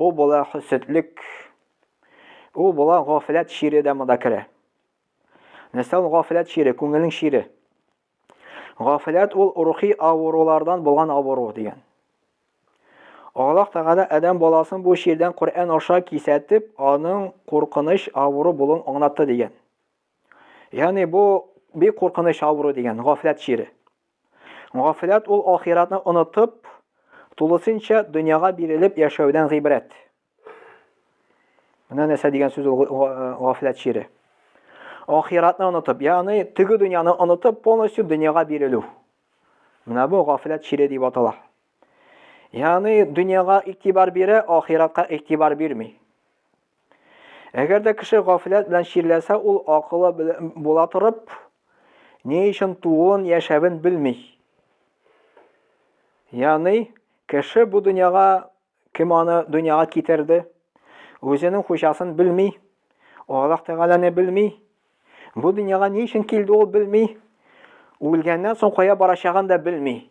Ул була хөсетлек, ул була гафләт чире дә монда керә. Нәрсә ул гафләт чире, күңелнең чире. Гафләт ул рухи авырулардан булган авыру дигән. Аллаһ Тәгалә Адәм баласын бу чирдән Коръән аша кисәтеп, аның куркыныч авыру булуын аңлатты дигән. Ягъни бу бик куркыныч авыру дигән, гафләт чире. Гафләт ул ахиратны онытып, тулысынча дөньяга бирелеп яшәүдән гыйбрәт. Менә нәрсә дигән сүз ул гафләт чире. Ахиратны онытып, ягъни теге дөньяны онытып, полностью дөньяга бирелү. Менә бу гафләт чире дип атала. Ягъни дөньяга игътибар бирә, ахиратка игътибар бирми. Әгәр дә кеше гафләт белән чирләсә, ул акылы була торып, ни өчен тууын, яшәвен белми. Ягъни, кеше бу дөньяга кем аны дөньяга китерде, үзенең хуҗасын белми, Аллаһ Тәгаләне белми, бу дөньяга ни өчен килде ул белми, үлгәннән соң кая барачагын да белми.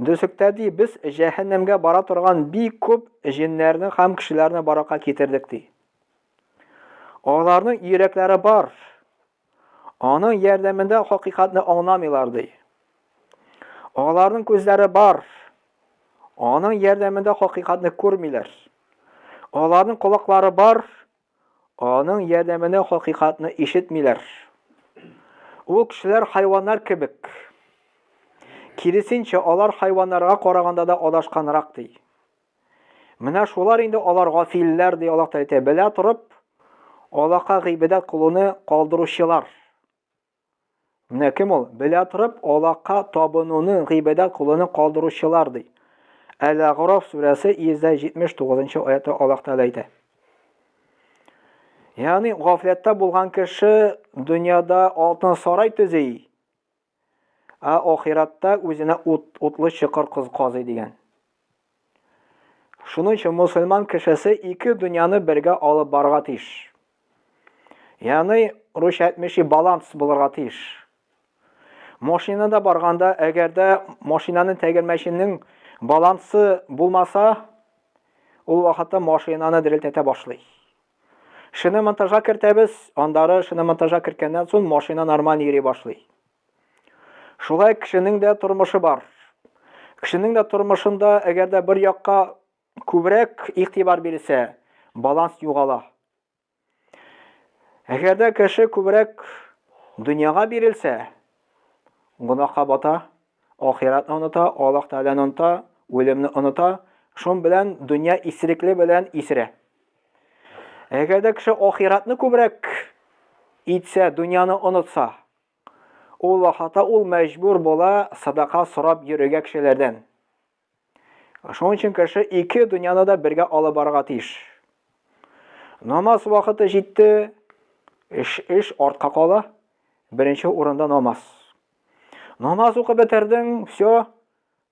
Дүсектә ди, без җәһәннәмгә бара торган бик күп җеннәрне һәм кешеләрне баракка китердек ди. Аларның йөрәкләре бар. Аның ярдәмендә хакыйкатьне аңламыйлар ди. Аларның күзләре бар. Аның ярдәмендә хакыйкатьне күрмиләр. Аларның колаклары бар. Аның ярдәменә хакыйкатьне ишетмиләр. Ул кешеләр хайваннар кебек. Киресенчә, алар хайваннарга караганда да адашканрак, ди. Менә шулар инде алар гафилләр, ди Аллаһ Тәгалә әйтә, белә торып, Аллаһка гыйбадәт кылуны калдыручылар. Менә кем ул? Белә торып, аллага табынуны гыйбадәт кулына калдыручылар, ди. Әл-Агъраф сүрәсе 179 нчы аятта Аллаһ Тәгалә әйтә. Ягъни гафләттә булган кеше дөньяда алтын сарай төзи, ә ахиратта үзенә ут, утлы чокыр казый дигән. Шуның өчен мусульман кешесе ике дөньяны бергә алып барга тиеш. Яны руш әйтмеши баланс булырга тиеш. Машинада барганда, әгәрдә машинаның тәгәрмәченең балансы булмаса, ул вакытта машинаны дерелтәтә башлый. Шиномонтажга кертәбез, андары шиномонтажга керткәннән соң машина нормаль йөри башлый. Шулай кешенең дә тормышы бар. Кешенең дә тормышында, әгәр дә бер якка күбрәк игътибар бирелсә, баланс югала. Әгәр дә кеше күбрәк дөньяга бирелсә, гөнаһка бата, ахиратны оныта, Аллаһ Тәгаләне оныта, үлемне оныта, шун белән дөнья исерекле белән исерә. Әгәр дә кеше ахиратны күбрәк итсә, дөньяны онытса, Ул вакытта ул мәҗбүр була садака сорап йөрергә кешеләрдән. Шуның өчен кеше ике дөньяны да бергә алып барырга тиеш. Намаз вакыты җитте, эш, эш артка кала, беренче урында намаз. Намаз укып бетердең, все,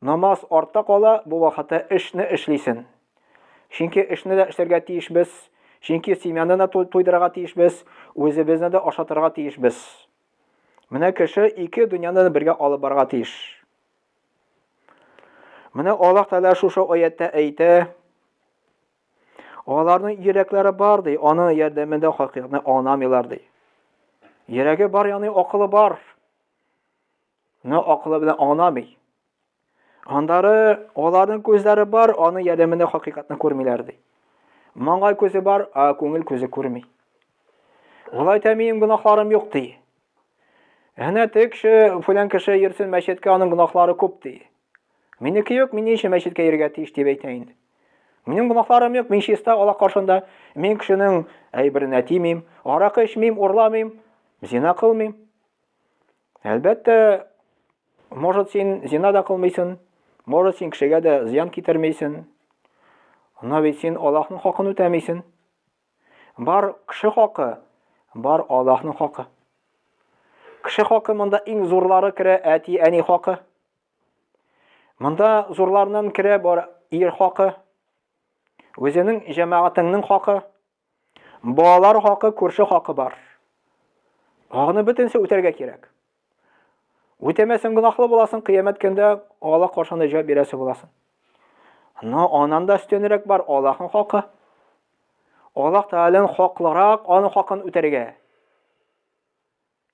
Намаз артта кала, бу вакытта эшне эшлисен. Чөнки эшне дә эшләргә тиешбез, чөнки семьяны да туйдырырга тиешбез, үзебезне дә ашатырга тиешбез. Менә кеше ике дөньяны да бергә алып барырга тиеш. Менә Аллаһ Тәгалә шушы аятта әйтә, аларның йөрәкләре бар ди, аның ярдәмендә хакыйкатьне анамыйлар ди. Йөрәге бар, яны акылы бар. Ны акылы белән аңламый. Андары аларның күзләре бар, аның ярдәмендә хакыйкатьне күрмиләр ди. Маңгай күзе бар, а күңел күзе күрми. Улай та минем гөнаһларым юк ди. Әнә теге кеше, фәлән кеше йөрсен мәчеткә, аның гөнаһлары күп ди. Минеке юк, мин ни өчен мәчеткә йөрергә тиеш дип әйтә инде. Минем гөнаһларым юк, мин чиста Аллаһ каршында. Мин кешенең әйберенә тимим, аракы эчмим, урламыйм, зина кылмыйм. Әлбәттә, может син зина да кылмыйсың, может син кешегә дә зыян китермейсең. Но бит син Аллаһның хакын үтәмисең. Бар кеше хакы, бар Аллаһның хакы. Кеше хакы монда иң зурлары керә, әти, әни хакы. Монда зурларнан керә бар ир хакы, үзенең җәмәгатеңнең хакы, Балалар хакы, күрше хакы бар. Хакны бөтенсе үтәргә кирәк. Үтәмәсен гынахлы буласын, кыямәт көндә Аллаһ каршында җавап бирәсе буласын. Но анан да өстенрәк бар Аллаһның хакы. Аллаһ Тәгаләнең хаклырак, аның хакын үтәргә.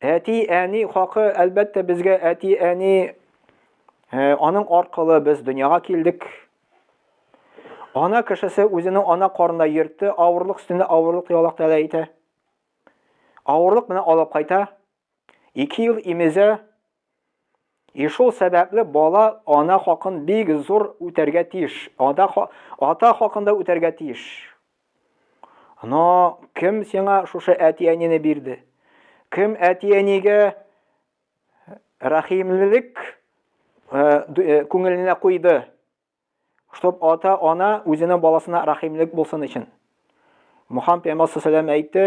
Әти, әни хакы, әлбәттә, безгә әти, әни э, аның аркылы без дөньяга килдек. Ана кешесе үзенең ана карында йөртте, авырлык өстенә авырлык ялак тәлә итә. Авырлык менә алып кайта. Ике ел имезә, И шул сәбәпле бала ана хакын бик зур үтәргә тиеш. Ада ата хакын да үтәргә тиеш. Но кем сиңа шушы әти-әнине бирде? Кем әти-әнигә рәхимлелек күңеленә куйды? Чтоб ата-ана үзенең баласына рәхимлек булсын өчен. Мухаммад пәйгамбәр саллаллаху әйтте,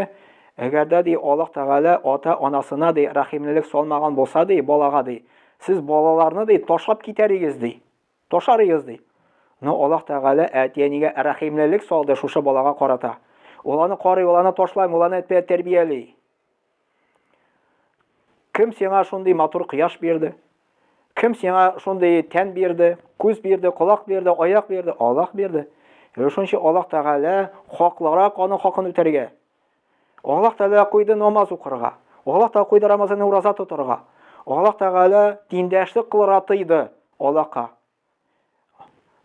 әгәр дә ди Аллаһ Тәгалә ата-анасына ди рәхимлелек салмаган булса ди балага ди, сез балаларны ди ташлап китәр идегез ди. Ташар идегез ди. Но Аллаһ Тәгалә әти-әнигә рәхимлелек салды шушы балага карата. Ул аны карый, ул аны ташлай, ул аны тәрбияли. Кем сиңа шундый матур кояш бирде? Кем сиңа шундый тән бирде, күз бирде, колак бирде, аяк бирде? Аллах бирде. Шунча Аллах Тәгалә хаклырак аның хакын үтәргә. Аллах Тәгалә куйды намаз укырга. Аллах Тәгалә куйды Рамазанны ураза тотарга. Аллах Тәгалә диндәшлек кылырга тыйды Аллаһка.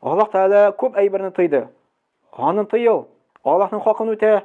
Аллах Тәгалә күп әйберне тыйды. Аны тыйыл. Аллаһның хакын үтә,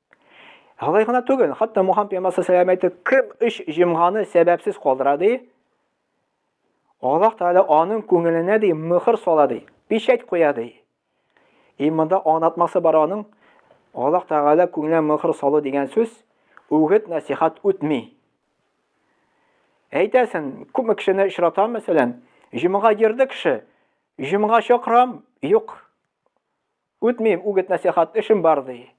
Алай гына түгел, хатта Мухан пәймасы сәламәте кем үч җимганы сәбәпсез калдыра ди. Аллаһ Тәгалә аның күңеленә ди мөхер сала ди, печать куя ди. И монда аңлатмасы бар аның. Аллаһ Тәгалә күңеленә мөхер салу дигән сүз үгет насихат үтми. Әйтәсен, күпме кешене очратам, мәсәлән, җомга йөрде кеше, җомга чакырам, юк. Үтмим, үгет-нәсыйхат эшем бар, ди.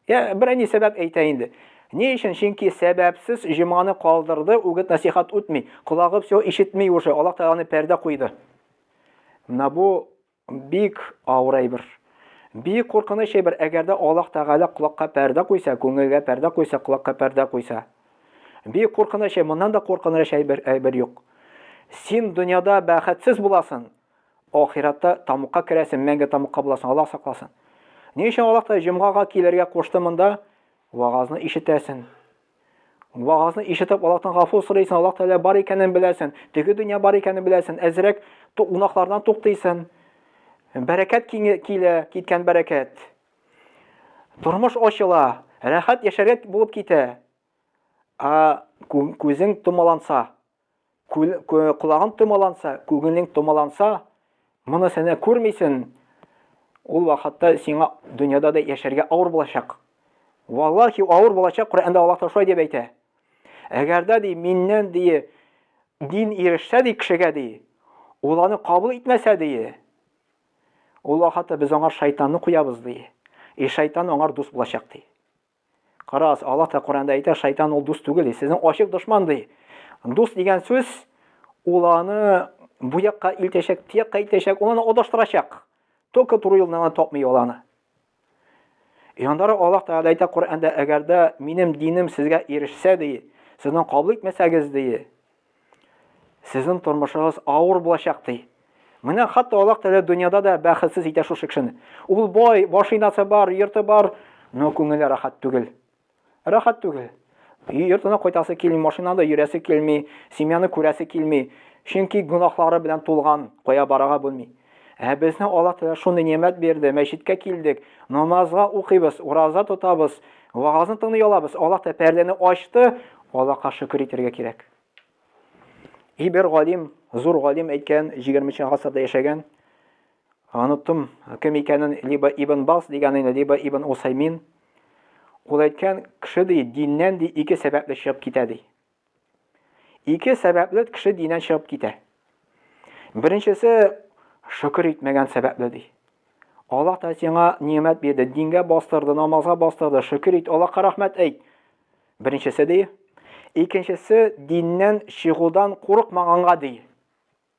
Йә, берәни сәбәп әйтә инде. Ни өчен? Чөнки сәбәпсез җомганы калдырды, үгет-нәсыйхат үтми. Колагы всё ишетми уже, Аллаһ Тәгаләне пәрдә куйды. Менә бу бик авыр әйбер. Бик куркыныч әйбер, әгәр дә Аллаһ Тәгалә колакка пәрдә куйса, күңелгә пәрдә куйса, колакка пәрдә куйса. Бик куркыныч, моннан да куркыныч әйбер, әйбер юк. Син дөньяда бәхетсез буласың, Ахиратта тамукка керәсең, мәңге тамукка буласың, Аллаһ сакласын. Ни өчен Аллаһ та җомгага килергә кушты монда? Вагазны ишетәсең. Вагазны ишетеп Аллаһтан гафу сорыйсың, Аллаһ Тәгалә бар икәнен беләсең, теге дөнья бар икәнен беләсең, әзрәк гунаһлардан туктыйсың. Бәрәкәт килә, киткән бәрәкәт. Тормыш ачыла, рәхәт яшәргә булып китә. Ә күзең томаланса, Күл, кү, колагың томаланса, күңелең томаланса, моны сәнә күрмисен, ул вакытта сиңа дөньяда да яшәргә авыр булачак. Валлахи авыр булачак, Коръәндә Аллаһ Тәгалә шулай дип әйтә. Әгәр дә ди миннән ди дин ирешсә ди кешегә ди, ул аны кабул итмәсә ди, ул вакытта без аңар шайтанны куябыз ди. И шайтан аңар дус булачак ди. Карагыз, Аллаһ та Коранда әйтә, шайтан ул дус түгел, ди, сезнең ачык дошман ди. Дус дигән сүз ул аны бу якка илтәчәк, ти якка илтәчәк, ул аны адаштырачак. Только туры юлны аны тапмый ул аны. Янда Аллаһ Тәгалә әйтә Коранда, әгәр дә минем динем сезгә ирешсә ди, сезнең кабул итмәсәгез ди, Сезнең тормышыгыз авыр булачак, ди. Менә хатта Аллаһ Тәгалә дөньяда да бәхетсез итә шушы кешене. Ул бай, машинасы бар, йорты бар, но күңеле рахат түгел. Рахат түгел. Йортына кайтасы килми, машинада йөрәсе килми, семьяны күрәсе килми. Чөнки гөнаһлары белән тулган, кая барага белми. Ә безне Аллаһ Тәгалә шундый нигъмәт бирде, мәчеткә килдек, намазга укыйбыз, ураза тотабыз, вагазны тыңлый алабыз. Аллаһ Тәгалә пәрдәне ачты, Аллаһка шөкер итәргә кирәк. И бер галим, зур галим әйткән, 20-нче гасырда яшәгән, оныттым кем икәнен, либо Ибн Бас дигәнен, либо Ибн Усаймин. Ул әйткән, кеше ди, диннән ди ике сәбәпле чыгып китә ди. Ике сәбәпле кеше динен чыгып китә. Беренчесе шөкер итмәгән сәбәпле ди. Аллаһ та сиңа ниәмәт бирде, дингә бастырды, намазга бастырды, шөкер ит, Аллаһка рәхмәт әйт. Беренчесе ди. Икенчесе диннән чыгудан курыкмаганга ди.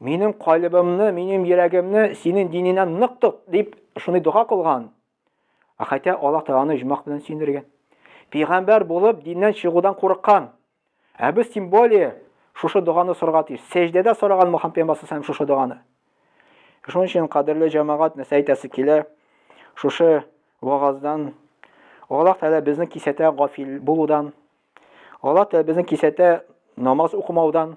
Минем калыбымны, минем йөрәгемне синең диненә нык тот, дип шуны дога кылган. Ә хәтта Аллаһ Тәгаләне иҗмах белән сөендергән. Пәйгамбәр булып диннән чыгудан курыккан. Ә без тем более шушы доганы сорга тиеш. Сәҗдәдә сораган Мөхәммәд пәйгамбәр һәм шушы доганы. Шуның өчен кадерле җәмәгать нәрсә әйтәсе килә? Шушы вагаздан Аллаһ Тәгалә безне кисәтә гафил булудан. Аллаһ Тәгалә безне кисәтә намаз укымаудан.